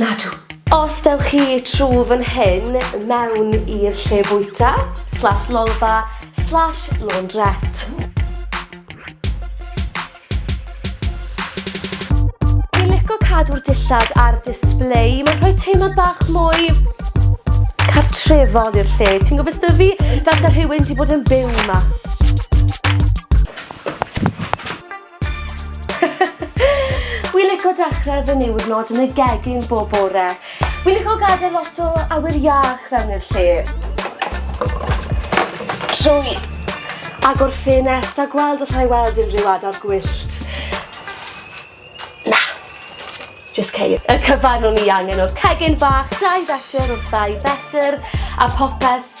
Nadw. Os dewch chi trw fan hyn mewn i'r lle bwyta, slash lolfa, slash laundrette. cadw'r dillad ar display. Mae'n rhoi teimlad bach mwy cartrefol i'r lle. Ti'n gwybod beth fi? Fel sa rhywun wedi bod yn byw yma. Wi lico dechrau fy niwrnod yn y gegin bob bore. Wi lico gadael lot o awyr iach fewn i'r lle. Trwy agor ffenest a gweld os rhaid weld unrhyw adar gwyllt. Na, just ceir. Y cyfan o'n i angen o'r cegin fach, dau fetr wrth ddau fetr a popeth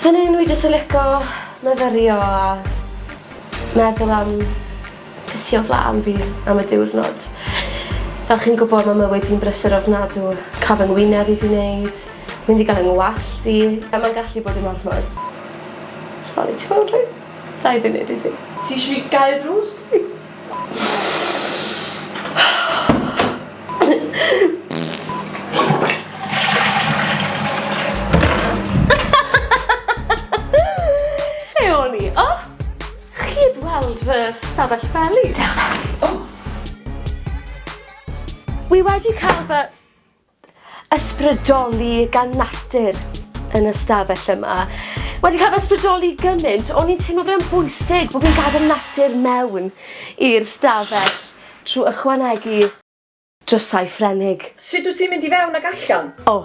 Fan hyn wi jyst yn lico myfyrio a meddwl am be sy o flan fi am y diwrnod. Fel chi'n gwybod mae mywyd hi'n brysur ofnadw. Cael fy ngwyneb i di wneud, mynd i gael yng ngwallt i. A mae'n gallu bod yn ormod. Sori, ti moyn rhoi dau funud i fi? Ti eisiau fi gael drws? Lle o'n i? O! Chi heb weld fy stafell feli? Diolch. O! Wi wedi cael fy... ysbrydoli gan natur yn y stafell yma. Wedi cael fy ysbrydoli gymaint, o'n i'n teimlo bod e'n bwysig bod fi'n gadael natur mewn i'r stafell trwy ychwanegu drysau Ffrenig. Sut wyt ti'n mynd i fewn ac allan? O!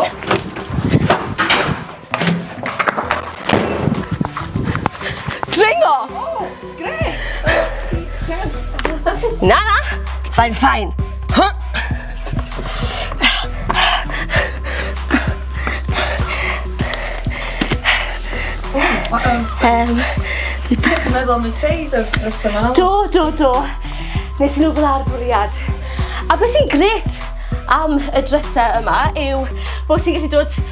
O! Dringo! Oh, gret! Na, na! Fain, fain! Um, Ti'n meddwl am y seis o'r dros yma? Do, do, do. Nes i nhw fel ar bwriad. A beth sy'n gret am y drysau yma yw bod ti'n gallu dod